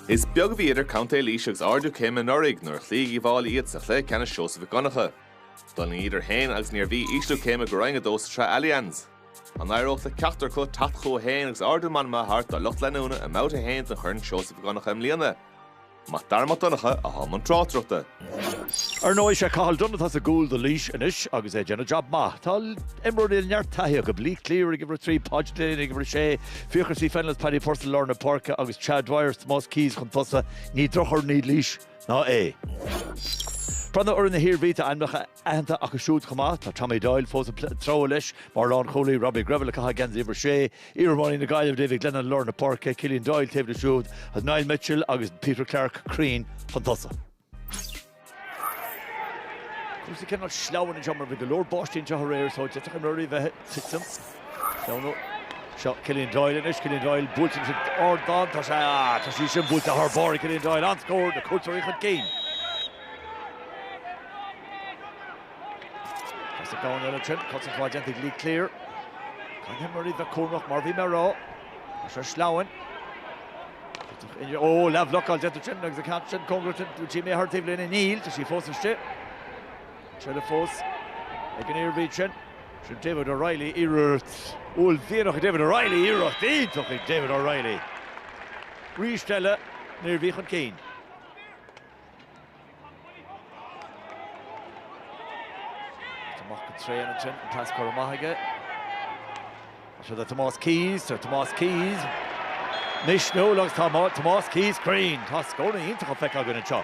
Is beag a bhí idir Contae Laoise agus ardú céime anuraidh nuair a chloígh Uíbh Fháilí iad sa chluiche ceannais Seosamh Mhic Dhonncha. D'fhulaing iad féin agus an Iarmhí ísliú céime go Roinn 2 sa tsraith Allianz. An éireodh le ceachtar acu teacht chucu féin agus ardú meanma a thabhairt dá lucht leanúna i mBabhta 1 den Chorn Seosamh Mhic Dhonncha i mbliana? Mac Dara Mac Donncha atá i mbun tráchtaireachta. Ar ndóigh, is é Cathal Dunne atá sa gcúl do Laois anois agus é ag déanamh jab maith. Tá imreoirí le neart taithí acu, Lee Cleere ag uimhir a trí, Podge Delaney ag uimhir a sé, Fiachra C Fennell is Paddy Purcell lár na páirce agus Cha Dwyer, Tomás Keyes chun tosaigh. Ní drochfhoireann í Laois ná é. Breathnú ar fhoireann na hIarmhí, tá ainmneacha Aitheanta acu siúd chomh maith, tá Tommy Doyle fós ag treabhadh leis mar lánchúlaí, Robbie Greville ag caitheamh geansaí uimhir 6, iarimreoir na Gaillimhe Davy Glennon lár na páirce, Killian Doyle taobh leis siúd, agus Niall Mitchell agus Peter Clarke cruinn chun tosaigh. Cúrsaí cineál sleamhain anseo mar bhí go leor báistí anseo aréir so d'fhéadfadh imreoirí bheith titim. Seo Killian Doyle anois, Killian Doyle buailte sin ard aige, tá sé ah, tá sí sin buailte thar barr Killian Doyle an scór na cuairteoirí chun cinn. Is a gcónaí ann sin, cosaint mhaith déanta ag Lee Cleere. Caithfidh na himreoirí bheith cúramach, mar a bhí mé a rá, leis an sleamhain. Tuigtear inniu, ó, leathbhlocáil déanta ansin agus an ceann sin cóngarach ansin d'imeacht thar an taobhlíne. Níl, tá sí fós istigh. An tseilbh fós ag an Iarmhí sin. Sin David O'Reilly, iarracht uaillmhianach David O'Reilly, iarracht iontach ag David O'Reilly arís eile, an Iarmhí chun cinn. Mac an traein ansin, an pas curtha amach aige. Siúd é Tomás Keyes, tá Tomás Keyes misniúil agus tá Tomás Keyes cruinn. Tá scóranna iontach á bhfeiceáil againn anseo.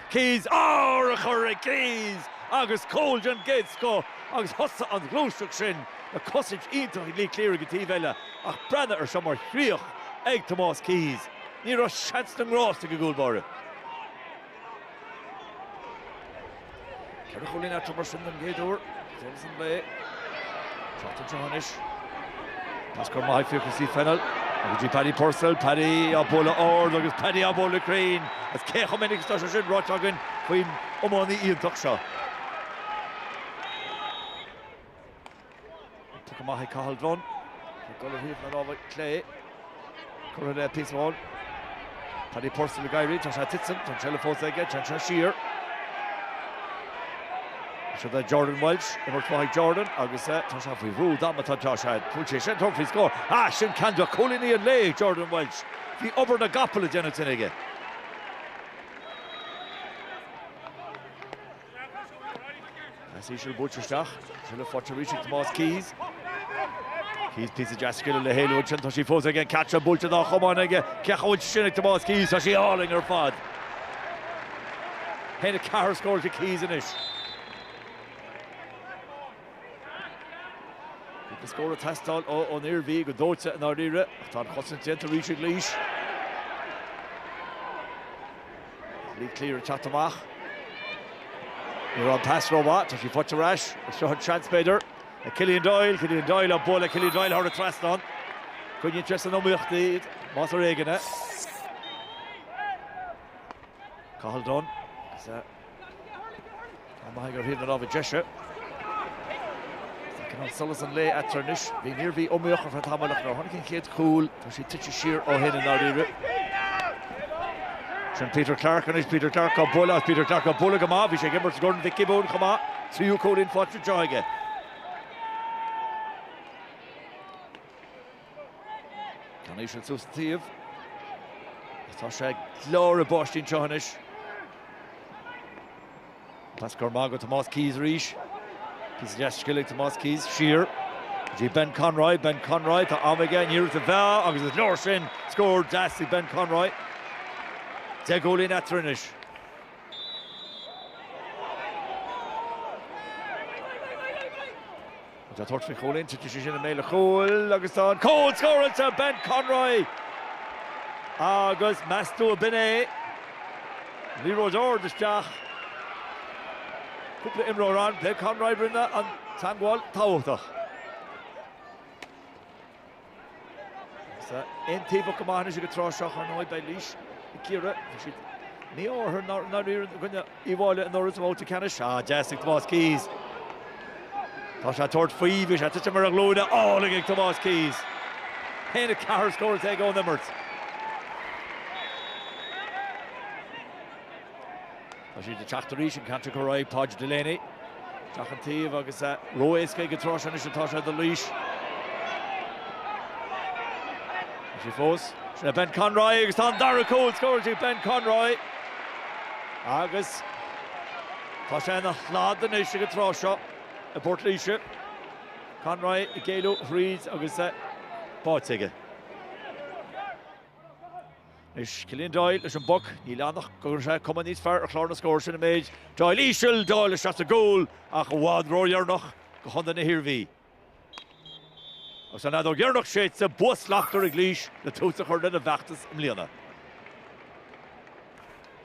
Keyes! Ó, urchar ag Keyes agus cúl den gcéad scoth agus thosaigh an ghluaiseacht sin le cosaint iontach ag Lee Cleere ag an taobh eile ach breathnaigh ar seo mar chríoch ag Tomás Keyes. Ní raibh seans na ngrást ag an gcúl báire. Ceithre chúilín eatarthu mar sin den chéad uair. Jones an lae. Teacht isteach anois. Pas curtha amach ag Fiachra C Fennell. Agus go dtí Paddy Purcell. Paddy á bualadh ard agus Paddy á bualadh cruinn. Agus cé chomh minic is tá sé sin ráite againn faoin iománaí iontach seo. Poc amach ag Cathal Dunne. Ag dul ar thaobh na láimhe clé. Cuireann Pease go hard. Paddy Purcell ag éirí, tá sé tite ansin, tá an tseilbh fós aige, téann sé siar. Siúd é Jordan Walshe, imirt mhaith ag Jordan agus tá sé faoi bhrú damanta, tá sé, fuair sé seans tabhairt faoi scór. Á, sin ceann de chúilíní an lae ag Jordan Walshe. Bhí obair na gcapall le déanamh ansin aige. Pas íseal buailte isteach, sliotar faighte arís ag Tomás Keys. Keys píosa deas scile le héalú ansin, tá sí fós aige, an catch an buailte dá chamán aige, cé chomh bhfuil sin ag Tomás Keys, tá sí álainn ar fad. 1, 4 scóráilte ag Keys anois. Bhí an scór ag teastáil ón Iarmhí go dóite i ndáiríre, ach tá an chosaint déanta arís ag Laois. Lee Cleere ag teacht amach. Ní raibh an pas rómhaith, tá sí faighte ar ais. Is seo an seans b'fhéidir ag Killian Doyle, Killian Doyle á bualadh, Killian Doyle thar an trasnán. Coinníonn sé san iomaíocht iad, más ar éigean é. Cathal Dunne. Amach ar thaobh na láimhe deise. Tagann an solas an lae eatarthu anois. Bhí an Iarmhí iomaíoch ar feadh tamaill ach nuair a tháinig an chéad cúl, tá siad tite siar ó shin i ndáiríre. Sin Peter Clarke anois, Peter Clarke á bualadh, Peter Clarke á bualadh go maith, bhí sé ag imirt i gCorn Mhic Giobúin chomh maith, tríú cúilín faighte anseo aige. Ceann íseal suas an taobh. Agus tá sé ag gleadhradh báistí anseo anois. Pas gearr maith go Tomás Keys arís. Píosa deas scile ag Tomás Keys, siar. Go dtí Ben Conroy, Ben Conroy, tá am aige, ní raibh sa mheá agus is leor sin. Scór deas ag Ben Conroy. Deich gcúilín eatarthu anois. Ag tabhairt faoi chúilín, titeann sí i mbéal an chúil agus tá an cúl scóráilte! Ben Conroy! Agus meas tú ab in é? Liathróid ard isteach. Cúpla imreoir ann. Ben Conroy a rinne an teagmháil tábhachtach. Tá aontaobhach go maith anois ag an tráth seo, ar ndóigh. Beidh Laois ag cíoradh. Bhí siad mí-ámharach i ndáiríre i gcoinne Uíbh Fhailí anuraidh sa bhabhta ceannais. Á, deas ag Tomás Keys. Tá sé ag tabhairt faoi. Bhí sé ag titim ar a ghlúine álainn ag Tomás Keys. A haon a ceathair scóráilte aige ón imirt. Tá siad ag teacht arís, an ceantar chomh ráidh, Páid Delaney, isteach ón taobh agus é ró-éasca ag an tráth seo anois atá sé do Laois. Tá sí fós. Sin é Ben Conroy agus tá an dara cúl scóráilte ag Ben Conroy agus tá sé ina shlad anois ag an tráth seo i bPort Laoise. Conroy ag éalú thríd agus é báite aige. Anois Killian Doyle leis an bpoc. Níl ann ach go gcuirfidh sé cuma níos fearr ar chlár na scór sin an méid. Doyle íseal, Doyle isteach sa gcúl ach i bhfad ródheireanach do Chontae na hIarmhí. Agus an fheadóg dheireanach séidte, bua slachtmhar ag Laois le tús a chur lena bhfeachtas i mbliana.